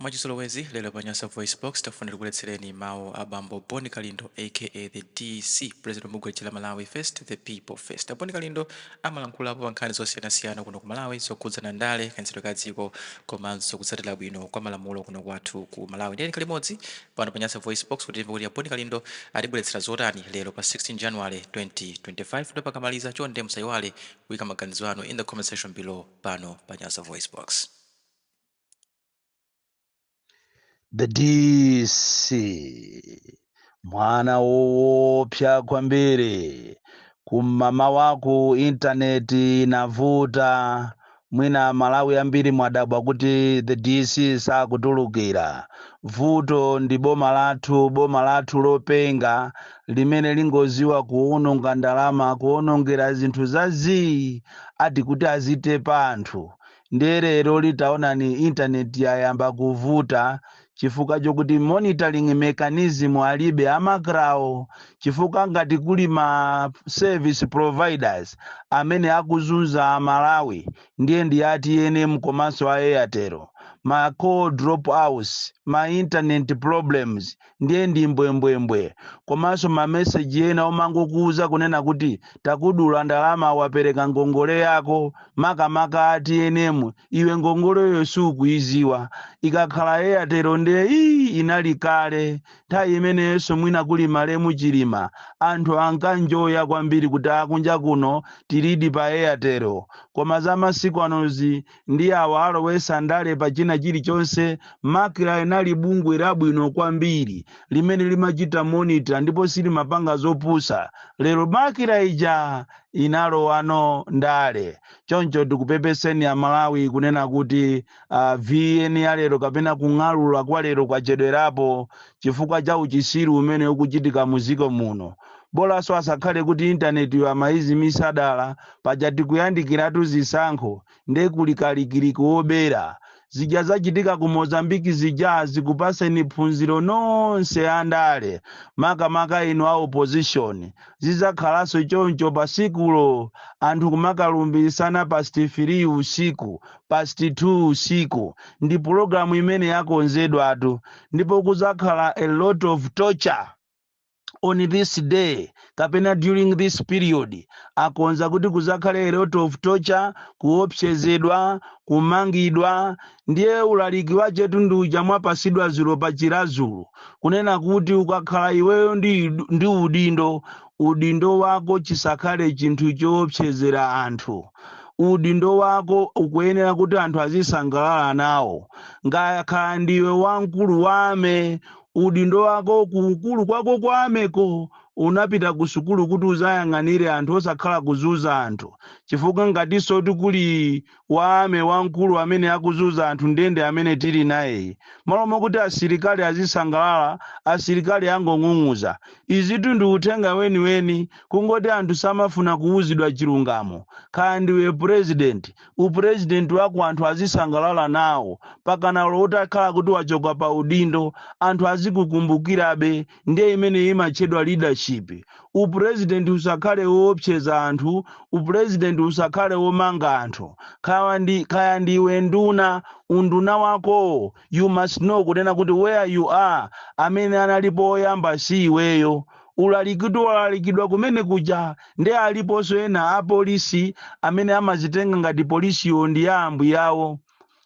Mwachizolowezi, lero pa Nyasa VoiceBox, tafuna tikuletsereni mawu a bambo Bon Kalindo aka the DC, president wa bungwe lija la Malawi First, the People First. A Bon Kalindo amalankhulapo pa nkhani zosiyanasiyana kuno ku Malawi zokhudzana ndale, kayendetsedwe ka dziko, komanso kutsatira bwino kwa malamulo kuno kwathu ku Malawi. Tiyeni tikhale limodzi pano pa Nyasa VoiceBox kuti timve kuti a Bon Kalindo atibweretsera zotani lero pa 16 January 2025. Ndipo akamaliza, chonde musayiwale kuika maganizo anu in the comment section below pano pa Nyasa VoiceBox. the dc mwana woopsa kwambiri kum'mawa uku intaneti inavuta mwina amalawi ambiri mwadabwa kuti the dc sakutulukira vuto ndi boma lathu boma lathu lopenga limene lingoziwa kuwononga ndalama kuwonongera zinthu za zii ati kuti azitepa anthu ndiye lero litaonani intaneti yayamba kuvuta chifukwa chokuti monitoring mechanism alibe a macrawo chifukwa ngati kuli ma service providers amene akuzunza amalawi ndiye ndi a tnm komanso a airtel ma call drop outs ma internet problems ndiye ndi mbwembwembwe komanso mameseji ena omangokuuza kunena kuti takudula ndalama wapereka ngongole yako makamaka a tnm iwe ngongoleyo sukuiziwa ikakhala airtel ndiye iyi inali kale nthawi imeneyonso mwina kuli malemu chilima anthu ankanjoya kwambiri kuti akunja kuno tilidi pa airtel koma za masiku anozi ndi awa alowesa ndale pa china chilichonse macra inali bungwe labwino kwambiri limene limachita monitor ndipo silimapanga zopusa lero macra ija inalowano ndale choncho tikupepeseni amalawi kunena kuti uh, vn ya lero kapena kung'alula kwa lero kwachedwerapo chifukwa cha uchisiru umene ukuchitika muziko muno bolanso asakhale kuti intanetiyo amaizimisa dala paja tikuyandikiratu zisankho nde kuli kalikiliki wobera zija zachitika ku mozambique zija zikupaseni phunziro nonse andale makamaka inu a opposition zizakhalanso choncho pa tsikulo anthu kumakalumbiritsana past 3 usiku past 2 usiku ndi pulogalamu imene yakonzedwatu ndipo kuzakhala a lot of torture on this day kapena during this period akonza kuti kuzakhale a lot of torture kuopsezedwa kumangidwa ndiye ulaliki wachetu ndi uja mwapasidwa zulo pa chirazulu kunena kuti ukakhala iweyo ndi, ndi udindo udindo wako chisakhale chinthu choopsezera anthu udindo wako ukuyenera kuti anthu azisangalala nawo ngakhale ndiwe wamkulu wa army udindo wako ku ukulu kwako kwa armyko unapita ku sukulu kuti uzayang'anire anthu osakhala kuzuza anthu chifukwa ngatinso kuti kuli wa army wamkulu amene akuzuza anthu nde ndi amene tili nayeyu malo mokuti asilikali azisangalala asilikali angong'ung'uza izitu ndi uthenga weniweni kungoti anthu samafuna kuwuzidwa chilungamo kaya ndiwe purezidenti upurezidenti wako anthu azisangalala nawo pakana olo utakhala kuti wachoka pa udindo anthu azikukumbukirabe ndiye imene imatchedwa leadership upurezidenti usakhale woopseza anthu upurezidenti usakhale womanga anthu kaya ndi kaya ndiwe nduna unduna wakowo you must know kunena kuti where you are amene analipo oyamba si iweyo ulaliki walalikidwa kumene kuja nde aliponso ena apolisi amene amazitenga ngati polisiyo ndi ya ambuyawo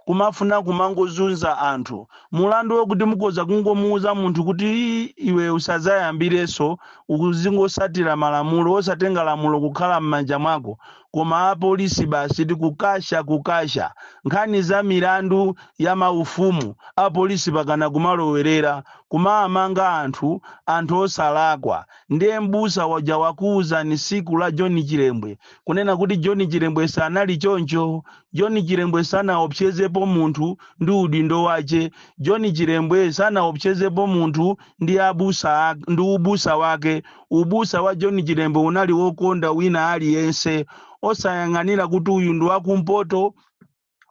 kumafuna kumangozunza anthu mulandu wokuti mukhoza kungomuuza munthu kuti "Ii, iwe usazayambirenso uzingosatira malamulo osatenga lamulo kukhala m'manja mwako koma apolisi basi tikukasha kukasha nkhani za milandu ya maufumu apolisi pakana kumalowerera kumaamanga anthu anthu osalakwa ndiye mbusa waja wakuuzani siku la john chilembwe kunena kuti john chilembwe sanali choncho john chilembwe sanaopsezepo munthu ndi udindo wache john chilembwe sanaopsezepo munthu ndi abusa ak- ndi ubusa wake Ubusa wa John Chilembwe unali wokonda wina aliyense osayang'anira kuti uyu ndi wakumpoto,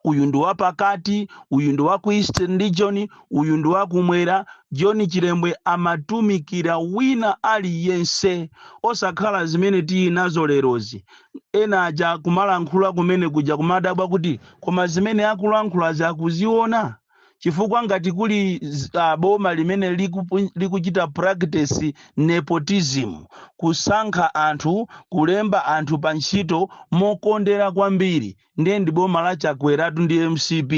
uyu ndi wapakati, uyu ndi wa ku Eastern Region, uyu ndi wakumwera. John Chilembwe amatumikira wina aliyense osakhala zimene tili nazo lerozi. Ena aja kumalankhula kumene kuja kumadabwa kuti koma zimene akulankhulazi akuziona? chifukwa ngati kuli z- ah, boma limene likupu- likuchita practice nepotism kusankha anthu kulemba anthu pa ntchito mokondera kwambiri ndiye ndi boma la chakweratu ndi mcp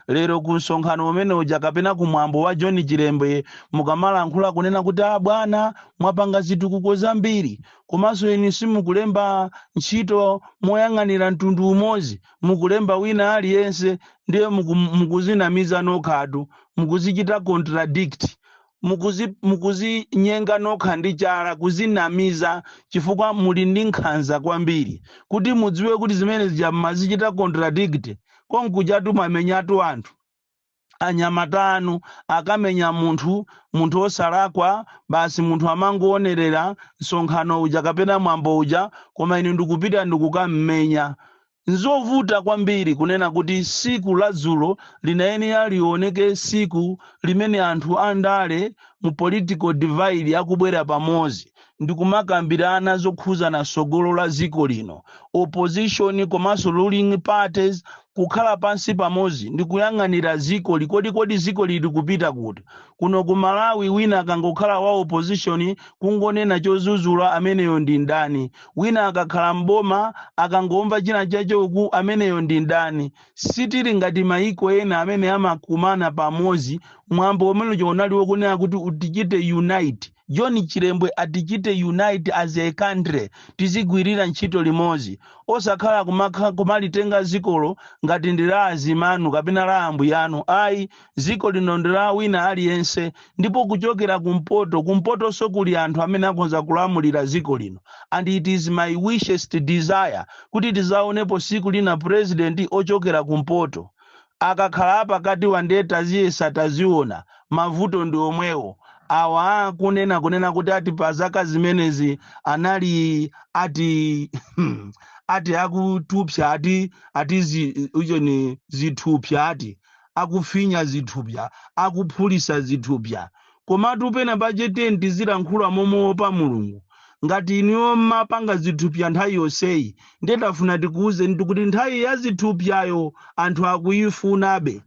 lero ku msonkhano umene uja kapena ku mwambo wa john chilembe mukamalankhula kunena kuti a bwana mwapanga zitukuko zambiri komanso inu simukulemba ntchito moyang'anira mtundu umodzi mukulemba wina aliyense ndiye muku, mukuzinamiza nokhatu mukuzichita contradict mukuzi mukuzinyenga nokha ndi chala kuzinamiza chifukwa muli ndi nkhanza kwambiri kuti mudziwe kuti zimene zija mmazichita contradict konkuchatu mwamenyatu anthu anyamata anu akamenya munthu munthu osalakwa basi munthu amangoonerera msonkhano uja kapena mwambo uja koma inu ndikupita ndikukammenya nzovuta kwambiri kunena kuti siku la dzulo linayenera lioneke siku limene anthu andale mu political divide akubwera pamodzi ndikumakambirana zokhuzana sogolo la ziko lino opposition komanso ruling parties kukhala pansi pamodzi ndikuyang'anira ziko likodi kodi ziko lili kupita kuti kuno ku malawi wina akangokhala wa opposition kungonena chozuzula ameneyo ndi mdani wina akakhala mboma akangomva china chachoka uku ameneyo ndi mdani sitili ngati maiko ena amene amakumana pamodzi mwambo umene uja unali wokunena kuti tichite unite John Chilembwe atichite unite as a country tizigwirira ntchito limodzi osakhala kumakha- kumalitenga zikoli ngati ndi la azimayi anu kapena la ambuyanu ayi ziko lino ndi la wina aliyense ndipo kuchokera kumpoto kumpotonso kuli anthu amene akhonza kulamulira ziko lino and it is my wishest desire kuti tizaonepo siku lina president ochokera kumpoto Akakhala apakatiwa nde taziyesa taziona, mavuto ndi omwewo. Awa kunena kunena kuti ati pa zaka zimenezi anali ati ati akutupa ati ati zi, ujeni zithupsa ati akufinya zithupsa akuphulisa zithupsa Komatu pena pake tiyeni tizilankhula momuopa Mulungu. Ngati inuyo mmapanga zithupya nthawi yonseyi, ndiye tafuna tikuuzenitu kuti nthawi ya zithupyayo anthu akuifunabe.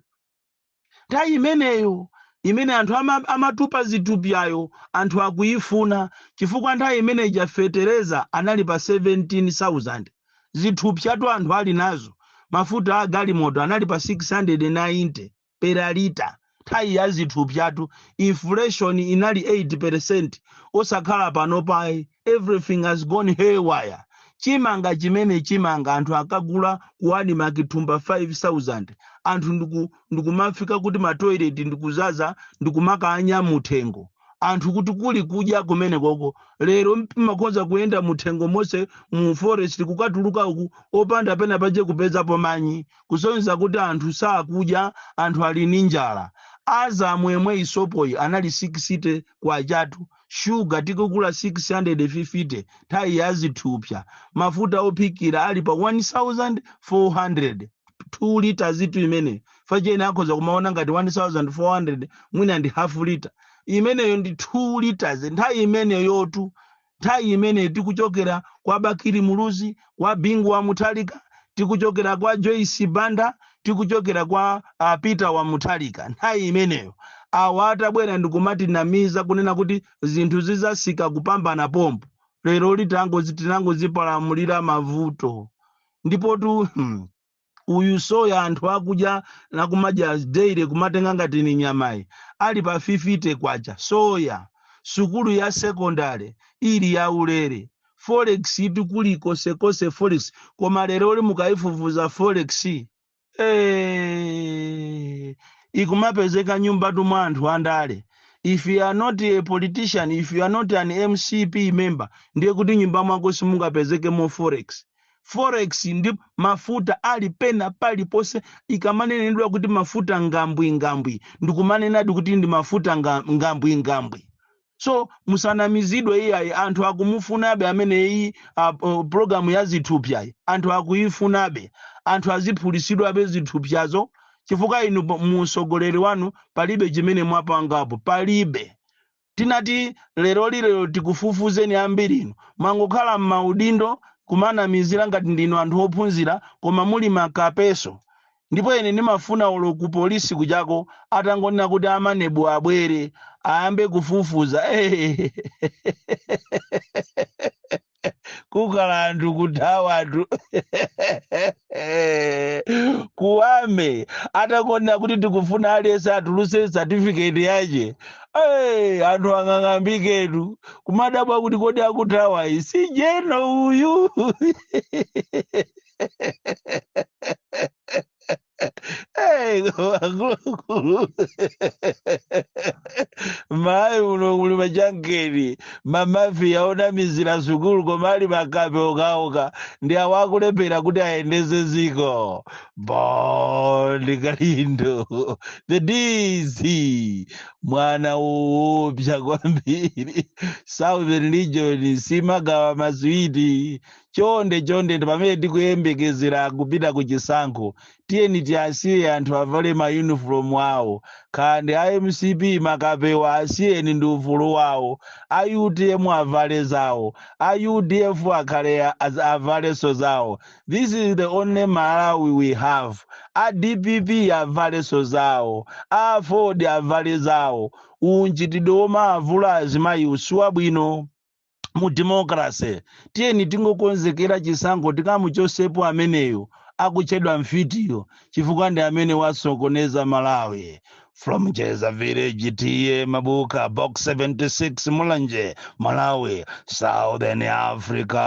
Nthawi imeneyo imene anthu ama, amatupa zithupyayo anthu akuifuna chifukwa nthawi imene ija fetereza anali pa 17,000. Zithupyatu anthu ali nazo. Mafuta a galimoto anali pa 690. per lita nthawi ya zithupsatu inflation inali 8% osakhala panopa ayi. everything has gone haywire chimanga chimene chimanga anthu akagula ku admarc thumba 5000 anthu ndiku- ndikumafika kuti matoilet ndikuzaza ndikumakanya muthengo anthu kuti kuli kudya kumene koko lero mmakhoza kuyenda muthengo monse mu forest kukatuluka uku opanda pena paje kupezapo manyi kusonyeza kuti anthu sakudya, anthu ali ndi njala. Azam yemweyi sopoyi anali 60 kwacha tu, shuga tikugula 650 nthawi ya zithupsa, mafuta ophikira ali pa 1400 2 liters itu imeneyo pacheni akhoza kumaona ngati 1400 mwina ndi half liter imeneyo ndi 2 liters nthawi imeneyotu nthawi imeneyi tikuchokera kwa bakiri muluzi kwa bingu wa muthalika tikuchokera kwa joyce banda tikuchokera kwa apeter wa muthalika nthawi imeneyo awa atabwera ndikumatinamiza kunena kuti zinthu zizasika kupambana pompo lero litangozi tinangozipalamulira mavuto ndipotu hmm, uyu soya anthu akudya nakumadya daily kumatenga ngati ni nyamayi ali pa 50 kwacha soya sukulu ya sekondale ili ya ulere forex itu kuli konsekonse forex koma lero lino mukayifufuza forex eh, ikumapezeka m'nyumbatu mwa anthu andale if you are not a politician if you are not an mcp member ndiye kuti nyumba mwako simungapezekemo forex forex ndi mafuta ali pena paliponse ikamanenedwa kuti mafuta ngambwingambwi ndikumanenadi kuti ndi mafuta nga- ngambwingambwi so musanamizidwe iyayi anthu akumufunabe amene iyi uh, uh, programu ya zithupyayi anthu akuyifunabe anthu aziphulisidwabe zithupyazo chifukwa inu po- mu utsogoleri wanu palibe chimene mwapangapo palibe titati leroli lero tikufufuzeni ambirinu mwangokhala m'maudindo kumanamizira ngati ndinu anthu ophunzira koma muli makapeso ndipo ine ndimafuna olo kupolisi kujako atangonena kuti amanebu abwere ayambe kufufuza kukhala anthu kuthawa anthu kuwame atangonena kuti tikufuna aliyense atuluse certificate yache Hey, anthu ang'ang'ambiketu kumadabwa kuti kodi akuthawa iyi si jeno uyu Hey, akuluakulu mayi muno muli machangeni mamafiya onamizira sukulu koma ali makape okhaokha ndi awo akulephera kuti ayendetse dziko bon kalindo the dc mwana woopsa kwambiri southern region simagawa maswiti chonde chonde ndi pamene tikuyembekezera kupita ku chisankho tiyeni tiasiye anthu avale mayunifomu awo khande a mcp makapewa asiyeni ndi ufulu wawo a utm avale zawo a udf akhale a- az- avalenso zawo this is the only malawi we have a dpp avalenso zawo a aford avale zawo unchitidwe womavula azimayi si wabwino mu democracy tiyeni tingokonzekera chisankho tikamuchosepo ameneyo akutchedwa mfitiyo chifukwa ndi amene wasokoneza malawi from jeza village tm mabuka box 76 mulanje malawi southern africa